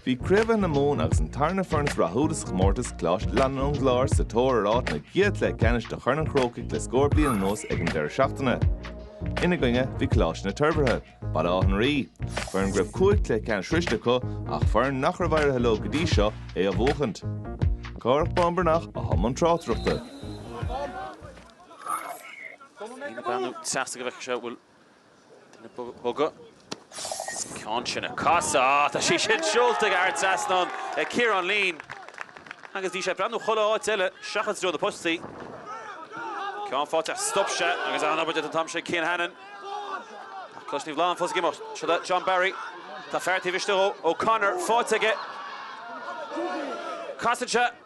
Bhí craobhacha na Mumhan agus an tarna foireann is rathúla sa chomórtas Coláiste Fhlannáin ón gClár sa tóir ar áit ina gcéad chluiche ceannais de Chorn an Chrócaigh le scór bliain anuas ag an deireadh seachtaine. Ina gcoinne, bhí Coláiste na Toirbhirthe, Baile Átha an Rí, foireann go raibh cúig chluiche ceannais sroiste acu ach foireann nach raibh éirithe leo go dtí seo é a bhuachaint. Cárthach Bán Breathnach atá i mbun tráchtaireachta. Breathnú taobh istigh go bhfeicfidh sé an bhfuil Duine ag bogadh sa gceann sin a casadh. Á, tá sí sin seolta thar an trasnán, ag Ciarán Leen, agus bhí sé ag breathnú chuile áit eile seachas i dtreo na postaí. Ceann faighte, stop sé agus an-obair déanta an t-am sin, Cian Hannon. Ach Coláiste Naomh Flannán fós ag imeacht. Seo le John Barry. Tá fear taobh istigh dhó, O'Connor, faighte aige. Casann sé.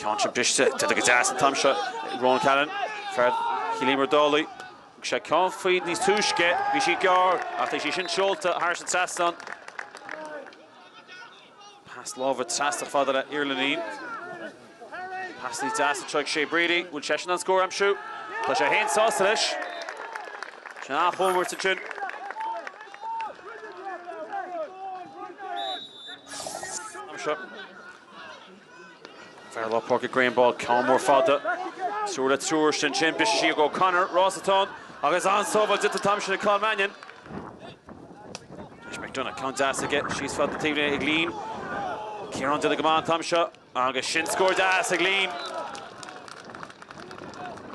Ceann sin briste, déanta go deas an t-am seo ag Ronan Cahalan, fear Chill Íomair Dálaigh. Thug sé ceann faoi níos túisce, bhí sí gearr ach tá sí sin seolta thairis an trasnán. Pas láimhe trasna fada le Iarlainnín. Pas níos deas anseo ag Shay Brady. An bhfuil seisean in ann scór a aimsiú? Tá sé féin sásta leis. Sé an athchómhairt ansin. Anseo. Fear lár páirce Graham Ball ceann mór fada. Triúr le triúr ansin. Briseann sí go O'Connor. Ross atá ann agus an-sábháil déanta an t-am sin ag Cathal Mannion. Tar éis McDonagh. Ceann deas aige síos feadh na taobhlíne ag Leen. Ciarán déanta go maith an t-am seo. Agus sin scór deas ag Leen.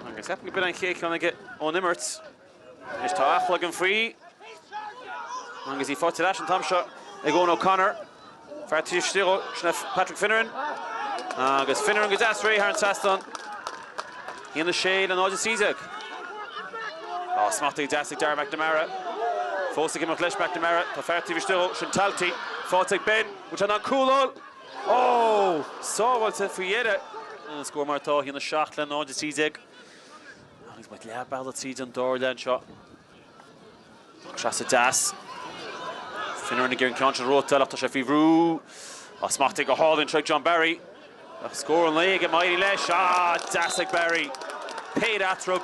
Agus cheapfainn go b'in é an chéad cheann aige ón imirt. Anois tá athchloig an fraoigh agus í faighte ar ais an t-am seo ag Eoin O'Connor. Fear taobh istigh dhó sin é Patrick Finneran agus Finneran go deas réidh thar an trasnán. 1-6 le 0-13. Á, smachtaithe go deas ag Darragh McNamara. Fós ag imeacht leis McNamara. Tá fear taobh istigh dhó sin Talty faighte ag Ben. An mbeidh sé in ann cúl a fháil. Oh! Sábháilte faoi dheireadh! An scór mar atá, 1-7 le 0-13. Agus muid leath bealaigh tríd an dara leath anseo. Ach trasna deas. Finneran ag iarraidh an ceann sin reoite ach tá sé faoi bhrú. Á smachtaithe go hálainn anseo ag John Barry. Ach scór an lae aige, má éiríonn leis. Ah! Deas ag Barry. Péire eatarthu.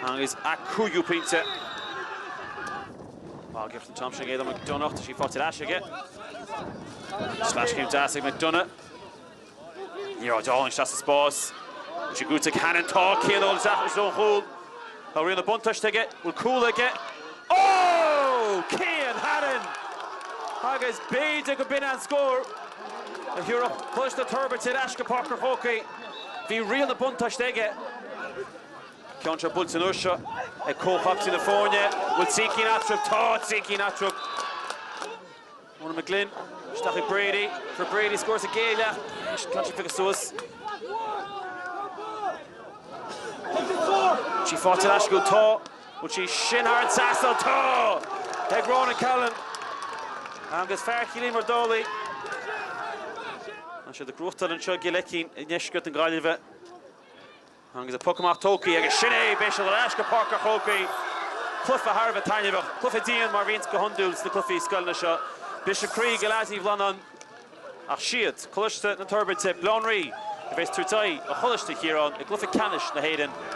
Agus a cúigiú pointe. Tá gift an t-am sin ag Éanna McDonagh, tá sí faighte ar ais aige. Sleaschéim deas ag McDonagh. Ag iarraidh dul isteach sa spás. Bhí sé curtha chuig Hannon. Tá Cian Ó Flatharta ón chúl. Tá riail an bhuntáiste aige. Bhfuil cúl aige? Oh! Cian Hannon! Agus b'fhéidir go b'in é an scór a thiúrfadh Coláiste na Toirbhirte ar ais go Páirc an Chrócaigh. Bhí riail an bhuntáiste aige. Ceann seo buailte anois seo ag comhchaptaen na foirne. Bhfuil trí cinn eatarthu? Tá trí cinn eatarthu. Ronan McGlynn isteach ag Brady. Fuair Brady scór sa gcéad leath. Ceann seo pioctha suas. Bhfuil sí faighte ar ais acu? Tá. Bhfuil sí sin thar an trasnán? Tá! Ag Ronan Callan agus fear Chill Íomair Dálaigh. Tá siad ag gnóthachtáil anseo i gCill Eicín i ndeisceart na Gaillimhe. Agus an puc amach tógthaí agus sin é! Beidh siad ar ais go Páirc a' Chrócaigh. Cluiche thar a bheith taitneamhach. Cluiche dian mar bhíonns go hiondúil sna cluichí scoileanna seo. Briseadh croí ag leads Naomh Flannán. Ach siad, Coláiste na Toirbirte, Baile Átha an Rí, a bheas ag tabhairt aghaidh ar Choláiste Chiaráin i gCluiche Ceannais na hÉireann.